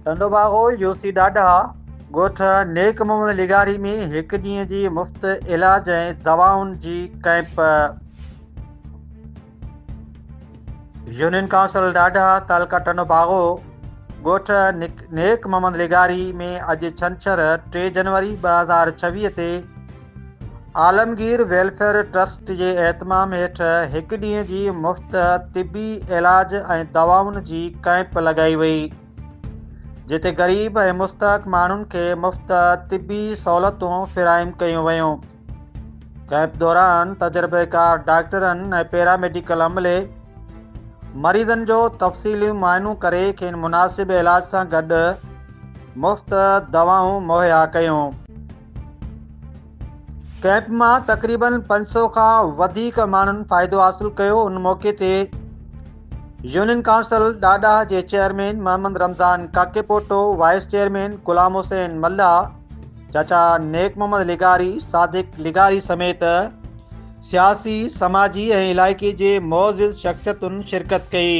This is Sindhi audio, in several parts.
ٽنڊو باغو يوسي ڏاڍا ڳوٺ نيڪ محمد لغاري ۾ هڪ ڏينهن جي مفت علاج ۽ دوائن جي ڪئمپ يونين ڪائونسل ڏاڍا تعلقه ٽنڊو باغو ڳوٺ نيڪ محمد لغاري ۾ اڄ ڇنڇر ٽي جنوري ٻه هزار ڇويهه تي عالمگير ويلفيئر ٽرسٽ جي اهتمام هيٺ هڪ ڏينهن جي مفت طبي علاج ۽ دوائن جي ڪئمپ لڳائي وئي جتي غريب ۽ مستحق ماڻهن کي مفت طبي سهولتون فراهم ڪيون ويون ڪئمپ دوران تجربيڪار ڊاڪٽرن ۽ پيراميڊيڪل عملي مريضن جو تفصيلي معائنو ڪري کين مناسب علاج سان گڏ مفت دوائون مهيا ڪيون ڪئمپ مان تقريبن پنج سؤ کان وڌيڪ ماڻهن فائدو حاصل ڪيو ان موقعي تي يونين ڪائونسل ڏاڏاهه جي chairman Muhammad Ramzan Kakepoto vice chairman Ghulam Hussain Mallah چاچا نيڪ محمد لغاري صادق لغاري سميت سياسي سماجي ۽ علائقي جي معزز شخصيتن شرڪت ڪئي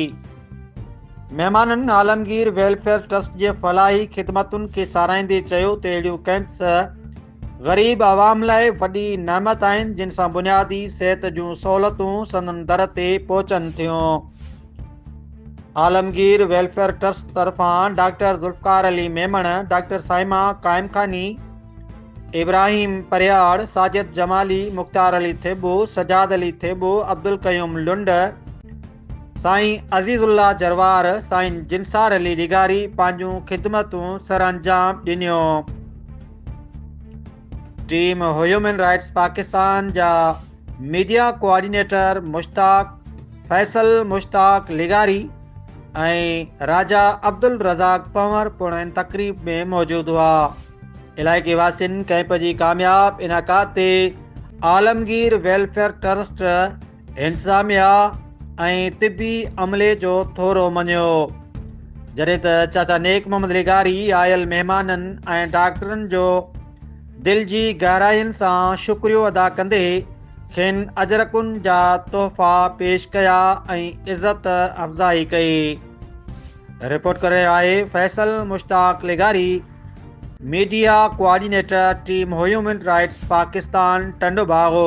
مهمانن عالمگير ويلفيئر ٽرسٽ جي فلاحي خدمتن کي ساراهيندي چيو ته اهڙيون ڪئمپس غريب عوام لاء وڏي نعمت آهن جن سان بنيادي صحت جون سهولتون سندن در تي پهچن ٿيون عالمگير ويلفيئر ٽرسٽ طرفان ڊاڪٽر ذوالفقار علي ميمڻ ڊاڪٽر سائما قائم خاني ابراهيم پرياڙ ساجد جمالي مختار علي ٿيٻو سجاد علي ٿيٻو عبدالقيوم لنڊ سائين عزيز الله جروار سائين جنسار علي لغاري پنهنجون خدمتون سرانجام ڏنيون ٽيم هيومن رائٽس پاڪستان جا ميڊيا ڪوآرڊينيٽر مشتاق فيصل مشتاق لغاري ۽ راجا عبد الرزاق پنور پڻ ان تقريب ۾ موجود هئا علائقي واسين ڪئمپ جي ڪامياب انعقاد تي عالمگير ويلفيئر ٽرسٽ انتظاميا ۽ طبي عملي جو ٿورو مڃيو جڏهن ته چاچا نيڪ محمد لغاري آيل مهمانن ۽ ڊاڪٽرن جو دل جي گهراين سان شڪريو ادا ڪندي کين اجرڪن جا تحفا پيش ڪيا ۽ عزت افزائي ڪئي رپورٽ ڪري آهي فيصل مشتاق لغاري media coordinator team human rights Pakistan Tando باغو